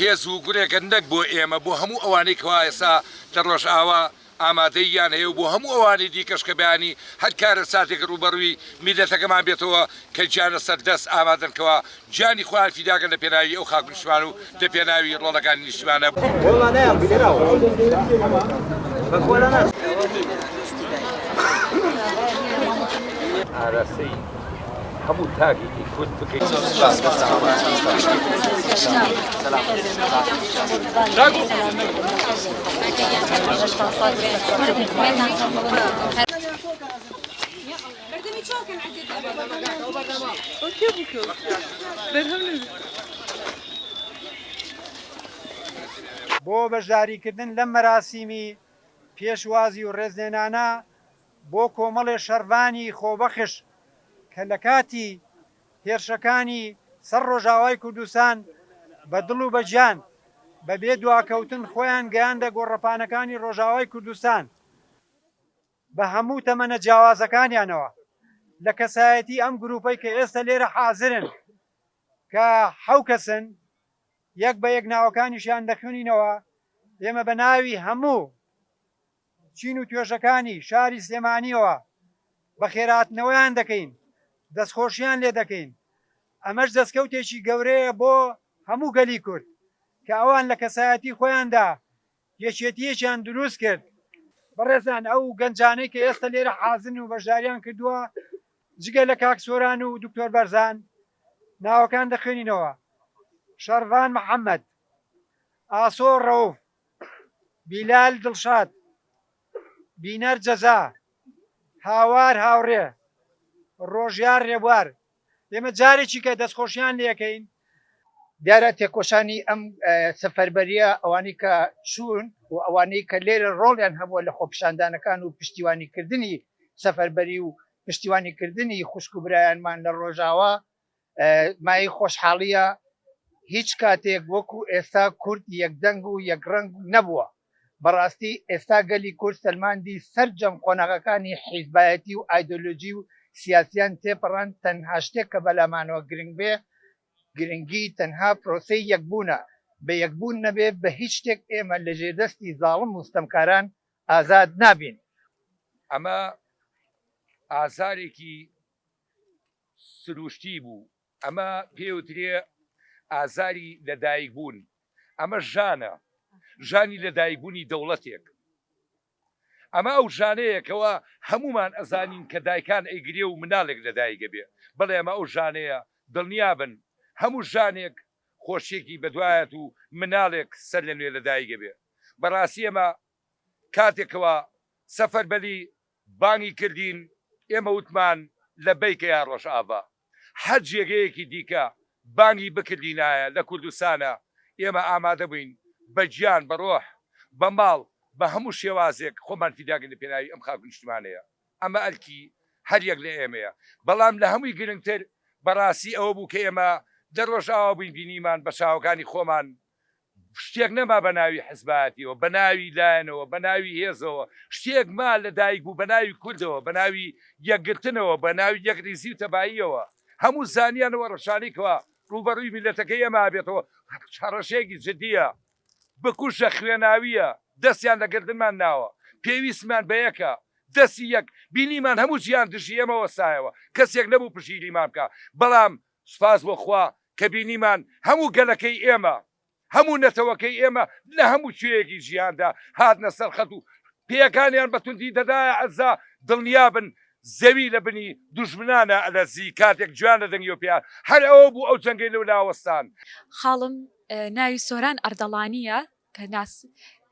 هێز و گورێکە نەک بۆ ئێمە بۆ هەموو ئەوانەی کەوا ئێستا لە ڕۆژئاوا ئامادەییان هەیە و بۆ هەموو ئەوانی دیکەش کە بەیانی هەر کارەساتێک ڕووبەڕووی میللەتەکەمان بێتەوە کە گیانە سەر دەست ئامادەن کەوا گیانی خۆیان فیدا کرد لە پێناوی ئەو خاک و نیشتمان و لە پێناوی ڕۆڵەکانی نیشتمانە. بەردەمی چۆڵ کەن عەزێت لە بۆ بەشداریکردن لەم مەراسیمی پێشوازی و ڕێزلێنانە بۆ کۆمەڵێ شەڕڤانی خۆبەخش کە لە کاتی هێرشەکانی سەر ڕۆژاوای کوردستان بە دڵ و بە گیان بە بێ دواکەوتن خۆیان گەیاندە گۆڕەپانەکانی ڕۆژاوای کوردستان، بە هەموو تەمەنە جیاوازەکانیانەوە لە کەسایەتی ئەم گرووپەی کە ئێستە لێرە حازرن کە حەو کەسن یەک بە یەک ناوەکانیشیان دەخوێنینەوە ئێمە بە ناوی هەموو چین و توێژەکانی شاری سلێمانیەوە بە خێراتنەوەیان دەکەین دەستخۆشیان لێ دەکەین ئەمەش دەستکەوتێکی گەورەیە بۆ هەموو گەلی کورد کە ئەوان لە کەسایەتی خۆیاندا یەکێتییەکیان دروست کرد. بەڕێزان ئەو گەنجانەی کە ئێستە لێرە حازرن و بەشداریان کردووە جگە لە کاک سۆران و دکتۆر بەرزان ناوەکان دەخوێنینەوە، شەڕڤان محەمەد، ئاسۆ ڕەوف، بیلال دڵشاد، بینەر جەزا، هاوار هاوڕێ، ڕۆژیار ڕێبوار، ئێمە جارێکیکە دەستخۆشیان لێکەین. دیارە تێکۆشانی ئەم سەفەربەرییە ئەوانەی کە چوون و ئەوانەی کە لێرە ڕۆڵیان هەبووە لە خۆپیشاندانەکان و پشتیوانیکردنی سەفەربەری و پشتیوانیکردنی خوشک و برایانمان لە ڕۆژاوا مایەی خۆشحاڵییە. هیچ کاتێک وەکوو ئێستا کورد یەکدەنگ و یەکڕەنگ نەبووە. بەڕاستی ئێستا گەلی کورد سەلماندی سەرجەم قۆناغەکانی حیزبایەتی و ئایدۆلۆجی و سیاسیان تێپەڕاند، تەنها شتێک کە بەلامانەوە گرنگ بێ گرنگی تەنها پرۆسەی یەکبوونە، بە یەکبوون نەبێ بە هیچ شتێک ئێمە لە ژێر دەستی زاڵم و ستەمکاران ئازاد نابین. ئەمە ئازارێکی سروشتی بوو ئەمە پێوترێ ئازاری لەدایکبوون، ئەمە ژانە، ژانی لەدایکبوونی دەوڵەتێک، ئەمە ئەو ژانەیە کەوا هەموومان ئەزانین کە دایکان ئەیگرێ و مناڵێک لەدایک ئەبێ، بەڵێ ئەمە ئەو ژانەیە، دڵنیابن هەموو ژانێک خۆشیەکی بەدوایەت و مناڵێک سەرلەنوێ لەدایک ئەبێ، بەڕاستی ئێمە کاتێک کەوا سەفەربەلی بانگی کردین ئێمە وتمان لەبەیکە یا ڕۆژئاڤا. هەر جێگەیەکی دیکە بانگی بکردینایە لە کوردستانا ئێمە ئامادە بووین بە گیان بە ڕۆح بە ماڵ بە هەموو شێوازێک خۆمان فیدا کەین لە پێناوی ئەم خاک و نیشتمانەیە ئەمە ئەرکی هەر یەک لە ئێمەیە بەڵام لە هەمووی گرنگتر بەڕاستی ئەوە بوو کە ئێمە لە ڕۆژئاوا بووین بینیمان بە چاوەکانی خۆمان شتێک نەما بە ناوی حزبایەتیەوە، بە ناوی لایەنەوە، بە ناوی هێزەوە، شتێک ما لە دایک بوو بە ناوی کوردەوە، بە ناوی یەکگرتنەوە، بە ناوی یەکریزی و تەباییەوە، هەموو زانیان و هەڕەشانی کوا ڕووبەڕووی میللەتەکەی ئێمە ئەبێتەوە، هەڕەشەیەکی جدیە، بکوژە خوێناویە، دەستیان لە گردنمان ناوە، پێویستمان بە یەکە، دەستی یەک بینیمان هەموو جیهان دژی ئێمە وەستایەوە، کەسێک نەبوو پشگیریمان بکا، بەڵام سوپاس بۆ خوا کە بینیمان هەموو گەلەکەی ئێمە، هەموو نەتەوەکەی ئێمە لە هەموو کوێیەکی جیهاندا هاتنە سەر خەت و پێیەکانیان بە توندی دەدایە عەزا، دڵنیابن زەوی لە بنی دوژمنانا ئەلەرزی کاتێک گوێیان لە دەنگیەوە پێیان هەر ئەوە بوو ئەو جەنگەی لەولا وەستان. خاڵم ناوی سۆران ئەردەڵانییە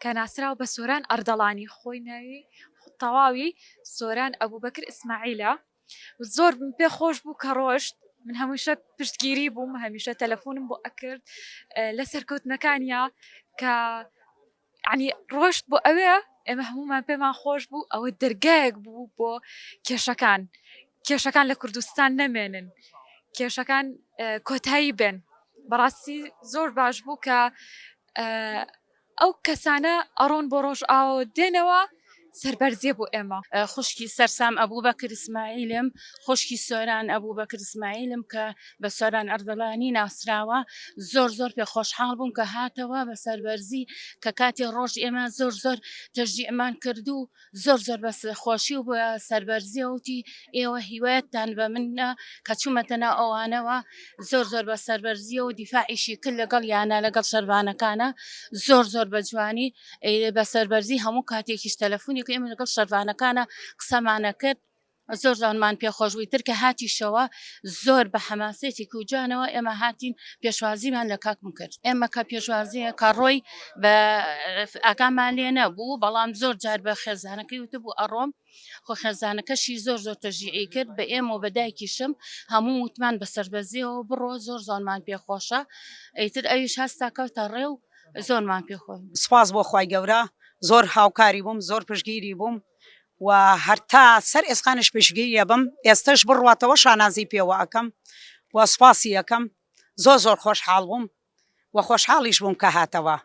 کە ناسراو بە سۆران ئەردەڵانی خۆی ناوی تەواوی سۆران ئەبوبەکر ئیسماعیلە، زۆر پێ خۆش بوو کە ڕۆشت من هەمیشە پشتگیری بووم هەمیشە تەلەفۆنم بۆ ئەکرد لە سەرکەوتنەکانیا کە عنی ڕۆشت بۆ ئەوێ ئێمە هەمومان پێمان خۆش بوو ئەوە دەرگایەک بوو بۆ کێشەکان کێشەکان لە کوردستان نەمێنن کێشەکان کۆتایی بێن بەڕاستی زۆر باش بوو کە ئەو کەسانە ئەڕۆن بۆ ڕۆژئاواو دێنەوە سەربەرزیە بۆ ئێمە. خوشکی سەرسام ئەبوبەکر ئیسماعیلم، خوشکی سۆران ئەبوبەکر ئیسماعیلم کە بە سۆران ئەردەڵانی ناسراوە، زۆر زۆر پێ خۆشحاڵ بووم کە هاتەوە بە سەربەرزی کە کاتی ڕۆژ ئێمە زۆر زۆر تەشجیعمان کردوو، زۆر زۆر بە خۆشی و بە سەربەرزیە وتی ئێوە هیوایەتتان بە منە کە چوومەتە ناو ئەوانەوە زۆر زۆر بە سەربەرزیە و دیفاعیشی کرد لەگەڵ یانە لەگەڵ شەرڤانەکانە زۆر زۆر بە جوانی ئێ بە سەربەرزی هەموو کاتێکیش تەلەفۆنێک ئێمە لەگەڵ شەرڤانەکانە قسەمانە کرد زۆر زۆرمان پێ خۆش بووی تر کە هاتیشەوە زۆر بە حەماسێتی کوجانەوە ئێمە هاتین پێشوازیمان لە کاکم کرد ئێمە کە پێشوازیە کە ڕۆی بە ئاکامان لێ نەبوو بەڵام زۆر جار بە خێزانەکەی وتبوو ئەڕۆم خۆ خێزانەکەشی زۆر زۆر تەژیعی کرد بە ئێمە و بەدایکیشم هەموو وتمان بە سربەزیەوە بڕۆ زۆر زۆرمان پێخۆشە ئەیتر ئەویش هەستا کەوتە ڕێ و زۆرمان پێخۆن سپاس بۆ خی گەورە زۆر هاوکاری بووم زۆر پشگیری بووم و هەر تا سەر ئێسقانیش پشتگیری ئەبم ئێستەش بڕواتەوە شانازی پێوە ئەکەم و سوپاسی ئەکەم زۆر زۆر خۆشحاڵ بووم و خۆشحاڵیش بووم کە هاتەوە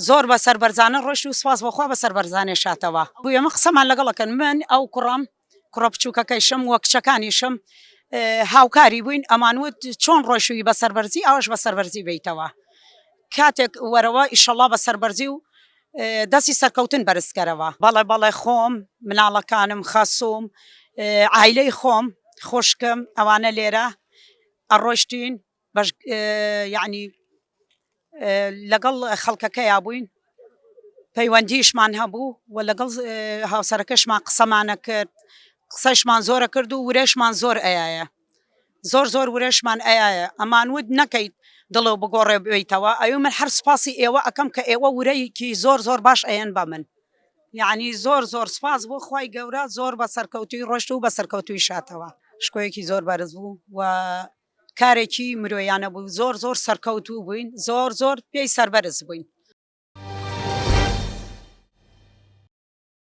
زۆر بە سەربەرزانە ڕۆشت و سوپاس بەخوا بە سەربەرزانێ شاتەوە بۆ ئێمە قسەمان لەگەڵەکەن من ئەو کوڕم کوڕە بچووکەکەیشم وە کچەکانیشم هاوکاری بووین ئەمان وت چۆن ڕۆشوی بە سەربەرزی ئەوش بە سەربەرزی بیتەوە کاتێک وەرەوە ئیشەڵا بە سەربەرزی و دەستی سەرکەوتن بەرزکەرەوە. بەڵێ بەڵێ خۆم مناڵەکانم خەسوم عایلەی خۆم خوشکم ئەوانە لێرە ئەڕۆشتین بەش یعنی لەگەڵ خەڵکەکەیا بووین پەیوەندیشمان هەبوو و لەگەڵ هاوسەرەکەشمان قسەمانە کرد قسەشمان زۆرە کرد و ورەشمان زۆر ئەیە زۆر زۆر ورەشمان ئەیایە ئەمان ود نەکەیت دڵێ و بگۆڕێ بێیتەوە ئەوی من هەر سپاسی ئێوە ئەکەم کە ئێوە ورەیەکی زۆر زۆر باش ئەیەن بە من یعنی زۆر زۆر سپاس بۆ خوای گەورە زۆر بە سەرکەوتوی ڕۆشت و بە سەرکەوتوی شاتەوە شکۆیەکی زۆر بەرز بوو و کارێکی مرۆیانە بوو زۆر زۆر سەرکەوتوو بووین زۆر زۆر پێی سەربەرز بووین